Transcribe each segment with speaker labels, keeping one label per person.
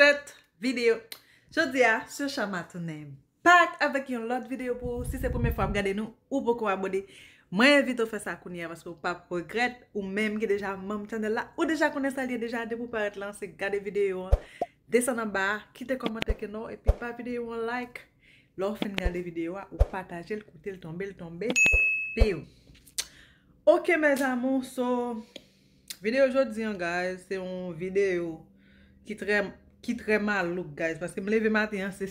Speaker 1: Tèt video Jodi a Sè Shama tounen back avèk yon lòt video pou ou Si se premye fwa wap gade nou ou poko abone Mwen envite w fè sa kounye a paske ou pap regrèt Ou menm ki deja manm channel la ou deja konnen sa l ye deja Depi w parèt lan se gade video an Desann anba a kite kòmantè kenò w epi ba video an yon like Lè w fin gade video a ou pataje l kote l tonbe l tonbe Piu Ok mes amours so Video jodi an guys se yon video ki trè ki trè malouk guys paske m leve maten an se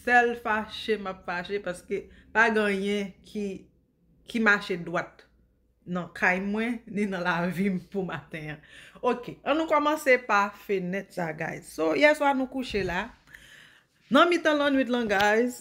Speaker 1: sèl fache m ap fache paske pa gen anyen ki ki mache dwat nan kay mwen ni nan lavi m pou maten an ok an nou kòmanse pa fenèt sa guys so yèswa nou kouche la nan mitan lannwit lan guys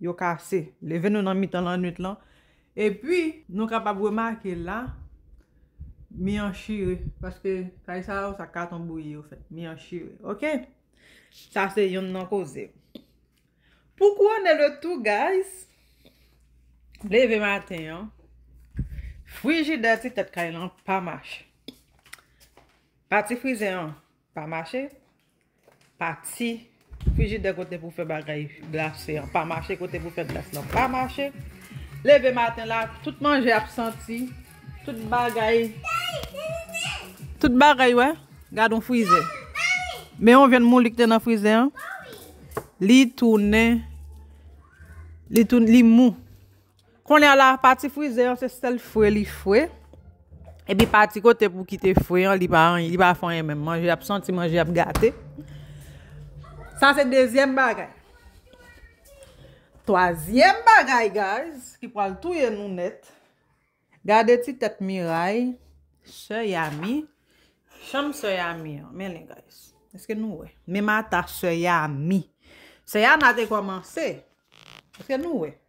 Speaker 1: Yo kase. Leve nou nan mitan lannwit lan. Epi, nou kapab remake la, mi an chire. Paske, kay sa yo, sa katon bouyi yo fèt. Mi an chire. Ok? Sa se yonn nan koze. Pou kouwone le tou, guys, leve maten an, frijidè ti tèt kay lan pa mache. Pati frize an pa mache. Pati frijidè kote pou fè bagay glase an pa mache kote pou fè glas lan pa mache leve maten la tout manje ap santi tout bagay tout bagay wè gad yon frizè men yon vyann mouli ki te nan frizè an li tounen li mou. Konya la pati frize an se sèl fre li fre. Epi pati kote pou kite fre an li pa anyen, li pa fè anyen menm. Manje ap santi, manje ap gate. Sa se dezyèm bagay. Twazyèm bagay guys ki pral touye nou nèt. Gade ti tèt Miray, sè Yami, chanm sè Yami an. Men li guys. Eske nou wè? Menm ata sè Yami. Sè Yami a te kòmanse. Eske nou wè?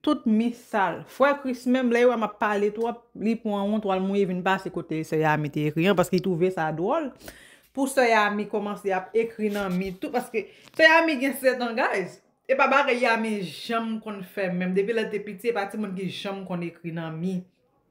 Speaker 1: Tout mi sal. Frè Kris menm lè yo wè map pale twòp, li pwan yon twal mouye vin pase kote sè Yami te ekri an paske li twouve sa dwòl pou sè Yami kòmanse ap ekri nan mi tou paske sè Yami gen 7 an guys e pa bagay Yami janm konn fè menm depi lèl te piti e pa timoun ki janm konn ekri nan mi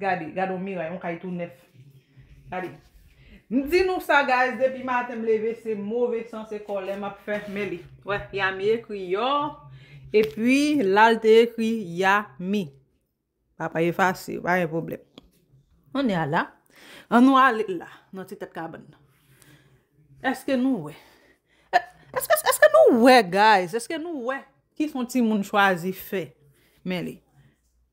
Speaker 1: Gade, gade yon miray, yon kay tou nèf. Gade. M di nou sa guys, depi maten m leve se move san, se kòlè m ap fè. Men li. Wè, Yami ekri yò. E pi, la l te ekri Yami. Sa pa efase, pa gen pwoblèm. An nou ala. An nou ale la, nan ti tèt kabann nan. Eske nou wè? Eske, eske nou wè guys? Eske nou wè? Ki son timoun chwazi fè? Men li.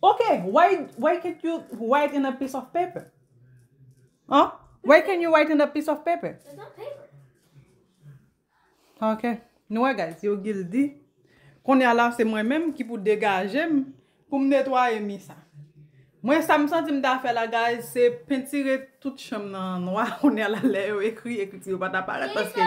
Speaker 2: Ok,
Speaker 1: why can't you write in a piece of paper? Huh? Why can't you write in a piece of paper? It's
Speaker 2: not paper.
Speaker 1: Ok, nou wè guys, yo gil di, konye la se mwen menm ki pou degaje m pou m netwaye mi sa. Mwen sa m santi m ta fè la guys, se pentire tout chanm nan nwa, konye la lè yo ekri, ekri ti yo pa ta parèt paske.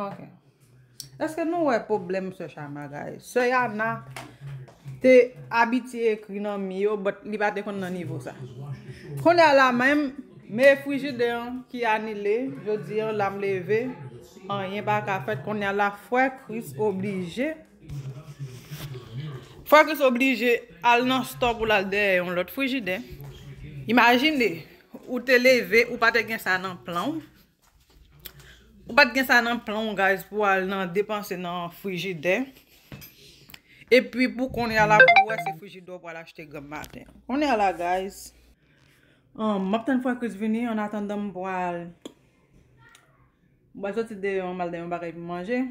Speaker 2: Ok
Speaker 1: Eske nou wè pwoblèm sè Chama gaye? Sè Yana te abitye ekri nan mi yo but li pa te konn nan nivo sa. Kounye a la menm, me frijidè an ki anile, jodi an la m leve, anyen pa ka fèt. Kounye a la frè Kris oblije. Focus oblije al nan store pou lal dèyè yon lòt frijidè. Imajine ou te leve ou pa te gen sa nan plan w. Ou pat gen sa nan plan w guys pou al nan depanse nan frijidè. E pi pou konya la pou wè se frijidè ou pral achte granm maten. Konya la guys. Map tann Focus vini an atandan m pral. M pral soti deyò an mal dèyè yon bagay pou manje.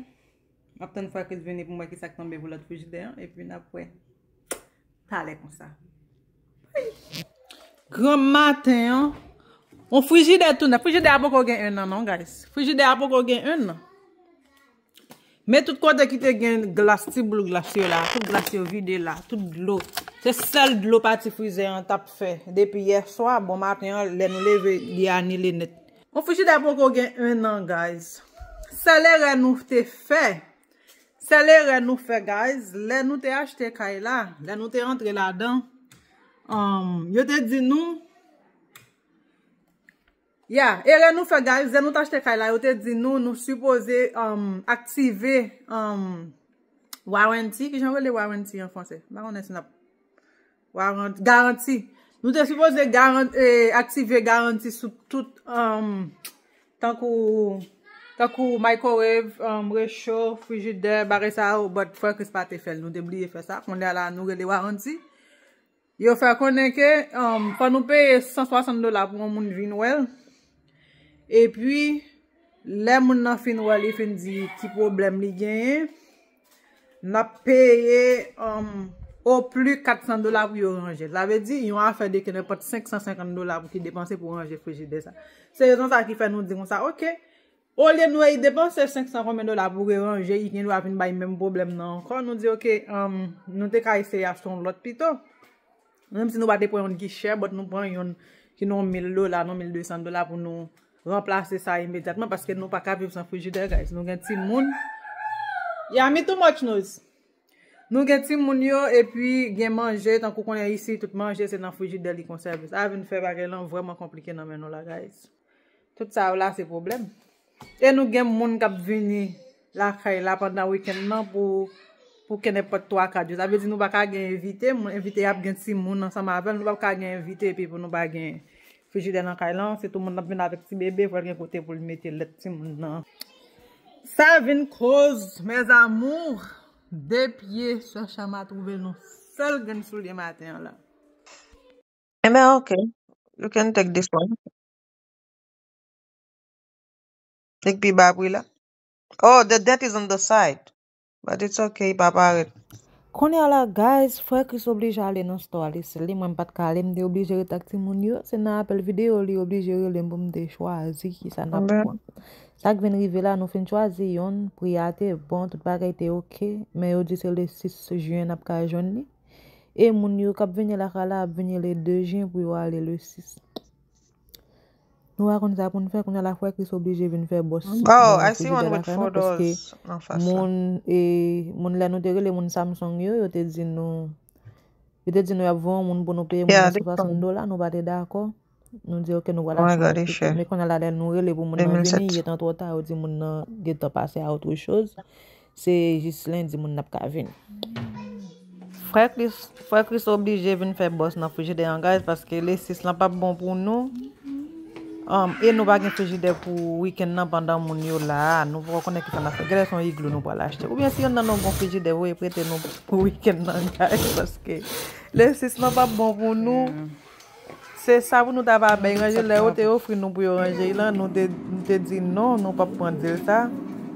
Speaker 1: Map tann fwa kris vini poum wè kisak tonbe pou lòt frijidè an epi nap wè talè konsa ayy. Granm maten an On frijidè tou nèf frijidè a poko gen 1 nan non guys frijidè a poko gen 1 nan men tout kote ki te gen glas ti boul glas yo la tout glas yo vide la tout dlo se sèl dlo pati frizè an tap fè depi yèswa bon maten an lè nou leve li anile nèt. Bon frijidè poko gen 1 an guys. Sèl erè nou te fè. Sèl erè nou fè guys. Lè nou te achte kay la. Lè nou te antre ladan. Yo te di nou. Ya. Erè nou fè guys. Lè nou te achte kay la. Yo te di nou. Nou suppose aktive. Warranty. Kijan rele warranty an franse. Mpa konnen si nap. Warant, garanti. Nou te sipoze garant, e, aktive garanti sou tout, um, tankou, tankou microwave, um, recho, frijidè, bagay sa yo, but frè Kris pa te fèl, nou te bliye fè sa, kounye a la nou rele waranti. Yo fè konnen ke, um, fò nou peye 160 dola pou yon moun vin wèl, epi, lè moun nan fin wèl, li fin di ki pwoblèm li genyen, Nap peye o pli 400 dola pou yo ranjel. Sa vle di yon afè de kenenpòt 550 dola pou ki depanse pou ranje frijidè sa. Se rezon sa ki fè nou di konsa ok. Olye nou e depanse 500 konbyen dola pou re ranje i gendwa vin bay menm pwoblèm nan ankò. Nou di ok nou te ka eseye achte yon lòt pito. Menm si nou pa te pran youn ki chè but nou pran youn ki nan mil dola, nan mil de san dola pou nou ranplase sa imedyatman paske nou pa ka viv san frijidè guys. Nou gen timoun. Yami too much noise. Nou gen timoun yo epi gen manje tankou konnen isi tout manje se nan frijidè li konsève. Sa vin fè bagay lan vrèman konplike nan men nou la guys. Tout sa yo la se pwoblèm. E nou gen moun k ap vini lakay la pandan wikenn nan pou kenenpòt twa kat jou. Sa vle di nou pa ka gen envite. Envite ap gen timoun ansanm avè l. Nou pap ka gen envite epi pou nou pa gen frijidè nan kay lan. Se tou moun ap vin avèk ti bebe pou l gen kote pou l mete lèt timoun nan. Sa vin koz mes amours 2 pye sè Chama twouve l nan sèl grenn soulye maten an la. Enben ok, you can take this one. Li k pi ba pri la. Oh, the dent is on the side. But it's ok, li pa parèt. Kounye a la guys, frè Chris oblije ale nan store a li sèl li, mwen m pat ka ale, m te oblije ret ak timoun yo, se nan apèl videyo li oblije rele m pou m te chwazi kisa n ap Enben, pran. Sa k vin rive la, nou fin chwazi youn, pri a te bon, tout bagay te ok, men yo di se le 6 juin n ap ka jwenn li. E moun yo kap vini lakay la ap vini le 2 jen pou yo ale le 6. Nou pa konn sa pou n fè, kounye a la frè Kris oblije vin fè bòs nan nan frijidè
Speaker 3: lakay nou paske moun e
Speaker 1: moun lè nou te rele moun Samsung yo, yo te di nou yo te di nou y ap voye yon moun pou nou peye moun nan 60 dola, nou pa te dakò. Nou di yo ke nou pral achte yon ti kay. Men kounye a la lè nou rele pou moun nan vini, li gentan twò ta, yo di moun nan gentan pase a otre choz. Se jis lendi moun nan ap ka vini. Frè Kris oblije vin fè bòs nan frijidè an gaz paske le 6 lan pap bon pou nou. E nou pa gen frijidè pou wikenn nan pandan moun yo la a. Nou poko konnen kisa n'ap fè. Gèlè son igloo nou pral achte. Oubyen si yonn nan nou gon frijidè voye prete nou pou wikenn nan gaz paske le 6 lan pap bon pou nou. Se sa pou nou ta va bay ranje lè yo te ofri nou pou yo ranje y lan nou te di non nou pap pran dil sa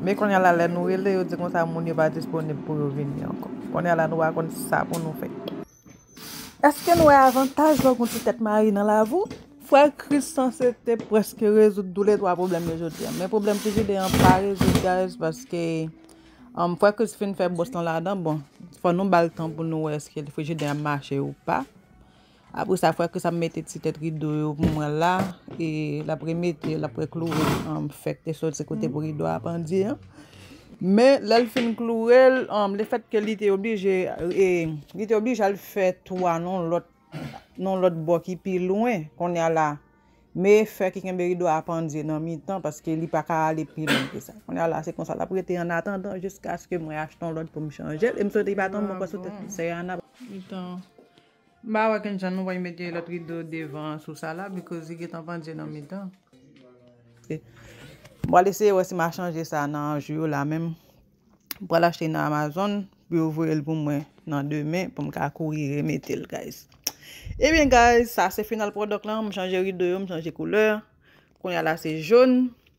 Speaker 1: men konnya la lè nou rele yo di konsa moun yo pa disponib pou yo vini ankò konnya la nou pa konn sa pou nou fè. Eske n wè avantaj lò gon ti tèt mare nan lavou? Frè Kris sanse te prèske rezoud tou le 3 pwoblèm yo jodi an men pwoblèm frijidè an pa rezoud guys paske Frè Kris fin fè bòs lan ladan bon fò nou bal tan pou nou wè eske frijidè an mache ou pa. Apre sa frè Kris ap mete ti tèt rido yo pou mwen la e l ap remete l ap rekloure fèk te soti kote pou rido a pandye an. Men lè l fin kloure l, lefèt ke li te oblije e li te oblije al fè twa nan lòt nan lòt bò ki pi lwen kounye a la me fè ki kenbe rido a pandye nan mitan paske li pa ka ale pi lwen ke sa. Kounye a la se konsa l ap rete an atandan jiskaske mwen achte yon lòt pou m chanje l e m swete li pa tonbe ankò sou tèt sè Ana. M pa wè kijan nou pral mete lòt rido devan an sou sa la because li gentan pandye nan mitan. M pral eseye wè si m a chanje sa nan jou yo la menm. M pral achte nan Amazon pou yo voye l pou mwen nan demen pou m ka kouri remete l guys. Ebyen guys sa se final product lan, m chanje rido yo, m chanje koulè. Kounya la se jaune.